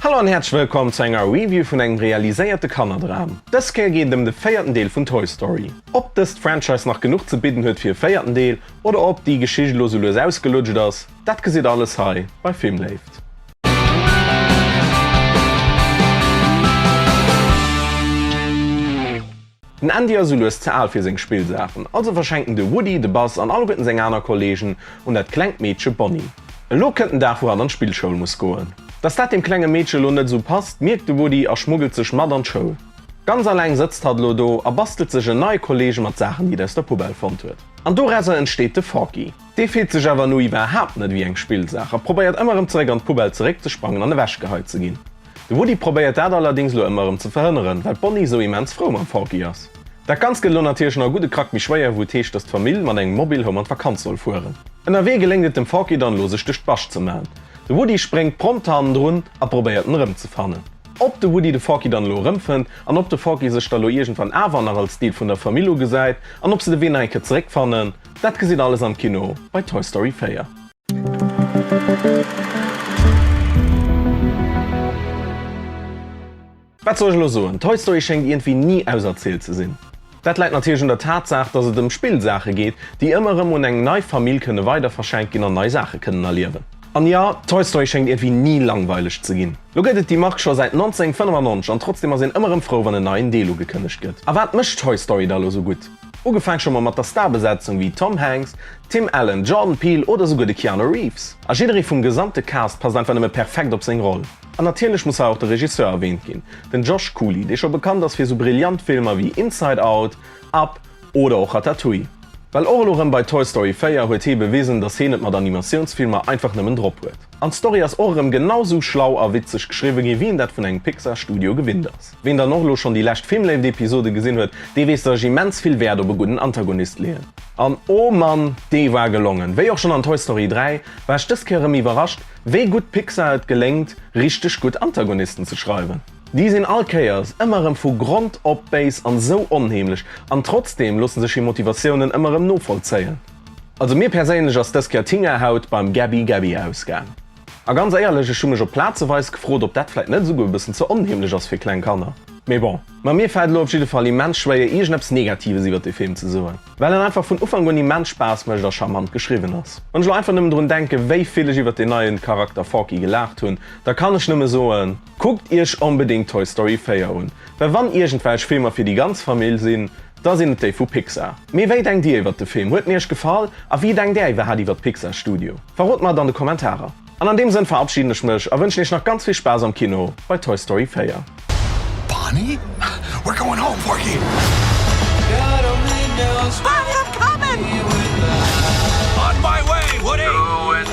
Hallo an häerzlech wëllkomm zu enger Review vun engem realiséierte Kannerdram. Dës Kéier geet et ëm de véierten Deel vun Toy Story. Ob dëst Franchise nach genuch ze bidden huet fir e véierten Deel oder ob déi Geschicht elo sou lues ausgelutscht ass, dat gesitt alles hei bei Filmléift. Den Andy ass elues ze al fir seng Spillsaachen, also verschenkt en de Woody, de Buzz an alleguerten seng aner Kolleegen un dat klengt Meedche Bonnie. Elo kënnt den Dag, wou hatt an d'Spillschoul muss goen. Dass dat deem klenge Meedche elo net esou passt, mierkt de Woody a schmuggelt sech mat an d'Schoul. Ganz aleng sëtzt hatt elo do a bastelt sech en neie Kolleege mat Saachen, déi et aus der Poubelle fonnt huet. An dorausser entsteet de Forky. Dee fillt sech awer elo iwwerhaapt net ewéi eng Spillsaach a probéiert ëmmer erëm zeréck an d'Poubelle zeréckzesprangen an ewechgehei ze ginn. De Woody probéiert dat allerdings lo emmer erem ze verhënneren well d'Bonnie sou immens frou mam Forky ass. Dat ganzt gëtt lo natierlech nach e gudde Krack méi schwéier wou et heescht dass d'Famill mat engem Mobile Home an d'Vakanz soll fueren. Ënnerwee geléngt et dem Forky dann lo sech duerch d'Bascht ze man. De Woody spréngt prompt hannendrun a probéiert en erem ze fannen. Ob de Woody de Forky dann elo erem fënnt an ob de Forky sech da lo iergendwann awer nach als Deel vun der Famill ugesäit an ob se de Wee nach eng Kéier zeréck fannen, dat gesitt alles am Kino bei Toy Story 4. Wat soll ech elo soen, Toy Story schéngt iergendwéi ni auserzielt ze sinn. Dat läit natierlech un der Tatsaach, dass et ëm Spillsaache geet, déi ëmmer erëm un eng nei Famill kënne weiderverschenkt ginn an nei Saache kënnen erliewen. An jo, Toy Story schéngt iergendwéi ni langweileg ze ginn. Lo gëtt et déi Mark scho säit 1995 an trotzdeem ass een ëmmer erëm frou, wann en neien Deel ugekënnegt gëtt. A wat mécht Toy Story da lo sou gutt? Ugefaang scho mer mat der Starbesetzung wéi Tom Hanks, Tim Allen, Jordan Peele oder souguer de Keanu Reeves. A jidderee vum gesamte Cast passt einfach nëmme perfekt op seng Roll. An natierlech muss hei och de Regisseur erwähnt ginn, den Josh Cooley, dee scho bekannt ass fir sou brillant Filmer wéi Inside Out, Up oder och Ratatouille. Well och elo rëm bei Toy Story 4 huet hee bewisen, dass heen et mat Animatiounsfilmer einfach nëmmen drop huet. An d'Story ass och erëm genau sou schlau a witzeg geschriwwe gi wéi een dat vun engem Pixar Studio gewinnt ass. Ween dann och elo schonn déi lescht Filmléift Episode gesinn huet, dee weess dat ech immens vill Wäert op e gudden Antagonist leeën. An oh Mann, dee war gelongen! Wéi och schonn an Toy Story 3, war ech dës Kéier erëm iwwerrascht wéi gutt Pixar et geléngt richteg gutt Antagonisten ze schreiwen. Déi sinn all Kéiers ëmmer erëm vu Grond op béis an esou onheemlech, an trotzdeem loosse sech hir Motivatiounen ëmmer erëm novollzéien. Also mir perséinlech ass dës Kéier d'Hingerhaut beim Gaby Gaby ausgaang. A ganz éierlech, ech hu mech op plazeweis gefrot, ob dat vläit net esouguer e bëssen ze onheemlech ass fir kleng Kanner. Mee bon, ma mir fält elo op jidde Fall immens schwéier iergendeppes Negatives iwwert dee Film ze soen, well en einfach vun Ufank un immens Spaass mécht a charmant geschriwwen ass. Wann ech elo einfach nëmmen drun denken, wéi vill ech iwwert deen neien Charakter Forky gelaacht hunn, da kann ech nëmmen soen, kuckt iech onbedéngt Toy Story 4 un, well wann iergendwelch Filmer fir déi ganz Famill sinn, Da sinn et déi vu Pixar. Mee wéi denkt Dir iwwert de Film? Huet en Iech gefall? A wéi denkt Är iwwerhat iwwert d'Pixar Studio? Verrot mer et an de Kommentarer. An an deem Sënn verabschiden ech mech a wënschen Iech nach ganz vill Spaass am Kino bei Toy Story 4. Barney? We're going home, Porky! Barney, I'm coming! On my way, Woody!